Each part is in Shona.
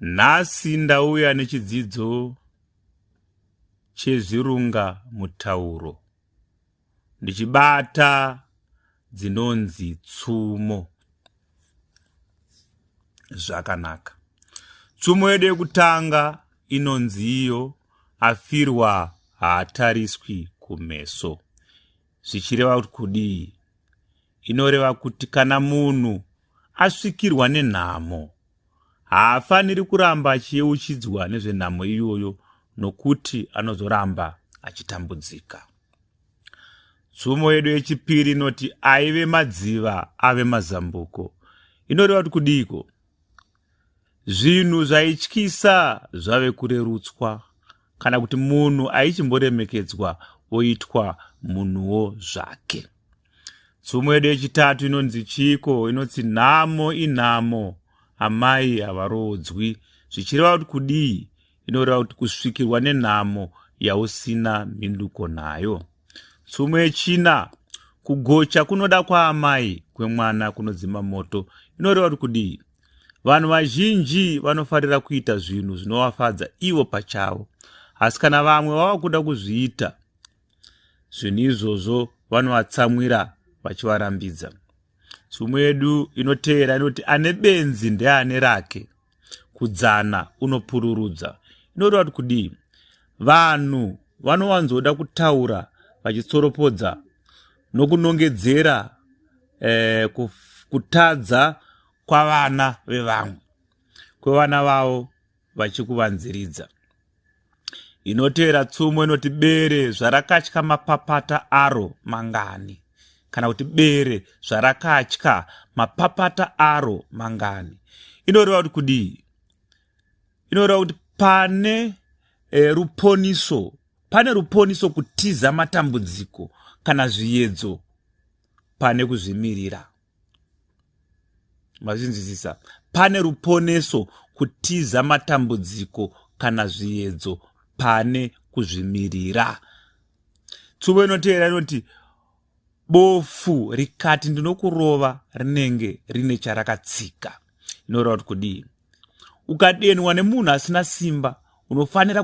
Nhasi ndauya nechidzidzo chezvirunga mutauro ndichibata dzinonzi tsumo zvakanaka. Tsumo yedu yekutanga inonzi iyo afirwa haatariswi kumeso zvichireva kuti kudii inoreva kuti kana munhu asvikirwa nenhamo haafaniri kuramba achiyeuchidzwa nezvenhamo iyoyo nokuti anozoramba achitambudzika. Tsumo yedu yechipiri inoti aive madziva ave mazambuko. Inoreva kuti kudiiko? Zvinhu zvaityisa zvave kurerutswa kana kuti munhu aichimboremekedzwa oitwa munhuwo zvake. Tsumo yedu yechitatu inonzi chiiko? Inoti nhamo inhamo, amai havaroodzwi. Zvichireva kuti kudii? Inoreva kuti kusvikirwa nenhamo yausina mhinduko nayo. Tsumo yechina, kugocha kunoda kwaamai kwemwana kunodzima moto. Inoreva kuti kudii? Vanhu vazhinji vanofarira kuita zvinhu zvinovafadza ivo pachavo, asi kana vamwe vava kuda kuzviita zvinhu izvozvo vanovatsamwira vachivarambidza tsumo yedu inoteera inoti ane benzi ndeane rake kudzana unopururudza inoreva kuti kudii vanhu vanowanzoda kutaura vachitsoropodza nokunongedzera eh, kutadza kwavana vevamwe kwevana vavo vachikuvanziridza inotevera tsumo inoti bere zvarakatya mapapata aro mangani kana kuti bere zvarakatya mapapata aro mangani inoreva kuti kudii inoreva kuti pane e, ruponiso pane ruponiso kutiza matambudziko kana zviyedzo pane kuzvimirira mazvinzwisisa pane ruponeso kutiza matambudziko kana zviedzo pane kuzvimirira tsubo inotevera inoti bofu rikati ndinokurova rinenge rine charakatsika inoreva kuti kudii ukadenwa nemunhu asina simba unofanira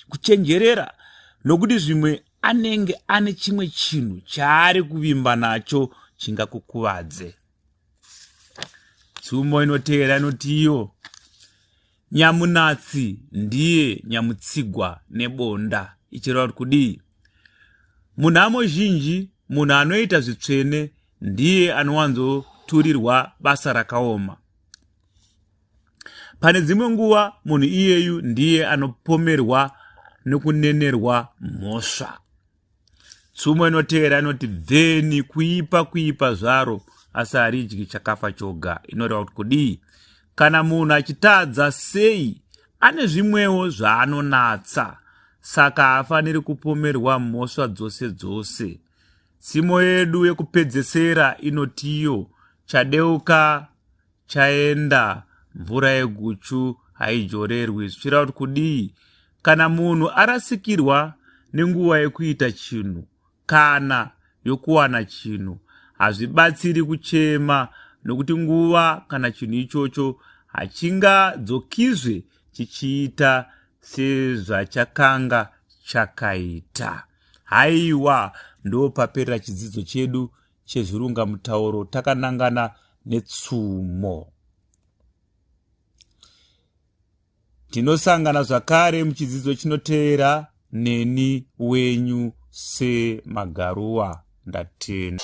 kuchenjerera nokuti zvimwe anenge ane chimwe chinhu chaari kuvimba nacho chingakukuvadze tsumo inotevera inoti iyo nyamunatsi ndiye nyamutsigwa nebonda ichireva kuti kudii munhamo zhinji munhu anoita zvitsvene ndiye anowanzoturirwa basa rakaoma Pane dzimwe nguva munhu iyeyu ndiye anopomerwa nokunenerwa mhosva. Tsumo inotevera inoti bveni kuipa kuipa zvaro asi haridyi chakafa choga inoreva kuti kudii kana munhu achitadza sei ane zvimwewo zvaanonatsa saka haafaniri kupomerwa mhosva dzose dzose tsimo yedu yekupedzesera inotiyo chadeuka chaenda mvura yeguchu haijorerwi zvichireva kuti kudii kana munhu arasikirwa nenguva yekuita chinhu kana yokuwana chinhu hazvibatsiri kuchema nokuti nguva kana chinhu ichocho hachingadzokizve chichiita sezvachakanga chakaita haiwa ndopaperera chidzidzo chedu chezvirungamutauro takanangana netsumo tinosangana zvakare muchidzidzo chinotevera neni wenyu semagaruwa ndatenda